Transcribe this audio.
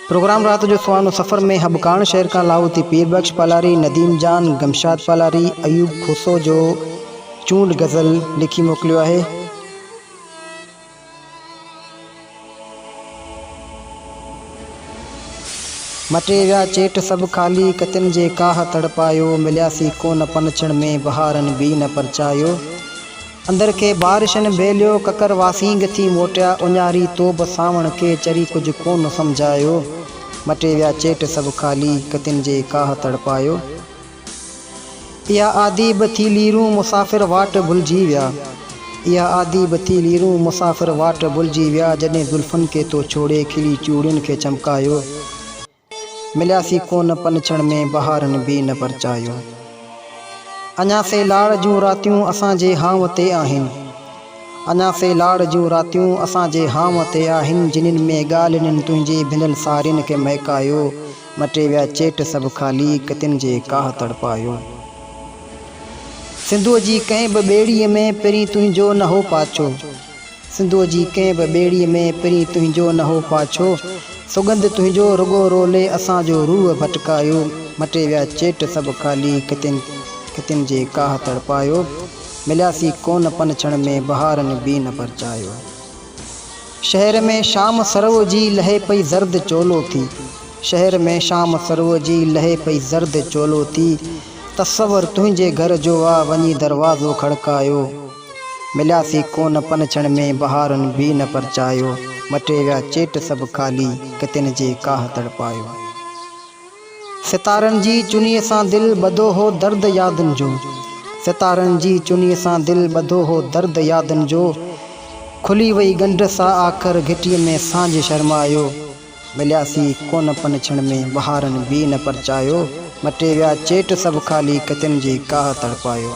Programme رات جو سهانو سفر ۾ هٻڪاڻ شهر کان لاهوتي پير بخش پالاري، نديم جان، گمشاد پالاري، ايوب کوسو جو چونڊ غزل لکي موڪليو آهي. مٽي ويا چيٽ سڀ خالي، ڪتين جي ڪاهه تڙپايو، ملياسين ڪونه پنڇڻ ۾، بهارن بي نه پرچايو. اندر کي بارشن بيليو، ڪڪر واسينگ ٿي موٽيا، اڃاري توب سانوڻ کي، چري ڪجهه ڪونه سمجهايو. مٽي ويا چيٽ سڀ خالي، ڪتين جي ڪاهه تڙپايو. اها عادي به ٿي ليرون مسافر واٽ ڀلجي ويا اها عادي به ٿي ليرون مسافر واٽ ڀلجي ويا جڏهن زلفن کي تو ڇوڙي کلي چوڙين کي چمڪايو ملياسين ڪونه پنڇڻ ۾ بهارن به نه پرچايو اڃا سي لاڙ جون راتيون اسان جي هانء تي آهن اڃا سي لاڙ جون راتيون اسان جي هانء تي آهن جنھن ۾ ڳالھين تنھنجي ڀنل سارين کي مهڪايو مٽي ويا چيٽ سڀ خالي، ڪتين جي ڪاهه تڙپايو. سنڌوء جي ڪنهن به ٻيڙيء ۾ پرين تنهنجو نه هو پاڇو. سنڌوء جي ڪنهن به ٻيڙيء ۾ پرين تنهنجو نه هو پاڇو. سوڳنڌ تنهنجو رڳو رولي اسان جو روح ڀٽڪايو. مٽي ويا چيٽ سڀ خالي، ڪتين ڪتين جي ڪاهه تڙپايو. ملياسين ڪونه پنڇڻ ۾، بهارن بي نه پرچايو. شهر ۾ شام سرو جي لهي پئي زرد چولو ٿي شهر ۾ شام سرو جي لهي پئي زرد چولو ٿي تصور تنهنجي گهر جو آ وڃي دروازو کڙڪايو ملياسي ڪونه پنڇڻ ۾ بهارن به نه پرچايو مٽي ويا چيٽ سڀ خالي ڪتين جي ڪاهه تڙپايو. ستارن جي چنيء سان دل ٻڌو هو درد يادن جو ستارن جي چنيء سان دل ٻڌو هو درد يادن جو کلي وئي ڳنڍ سا آخر گهٽيء ۾ سانجهه شرمايو ملياسين ڪونه پن ڇڻ ۾ بهارن به نه پرچايو مٽي ويا چيٽ سڀ خالي ڪتن جي ڪاهه تڙپايو.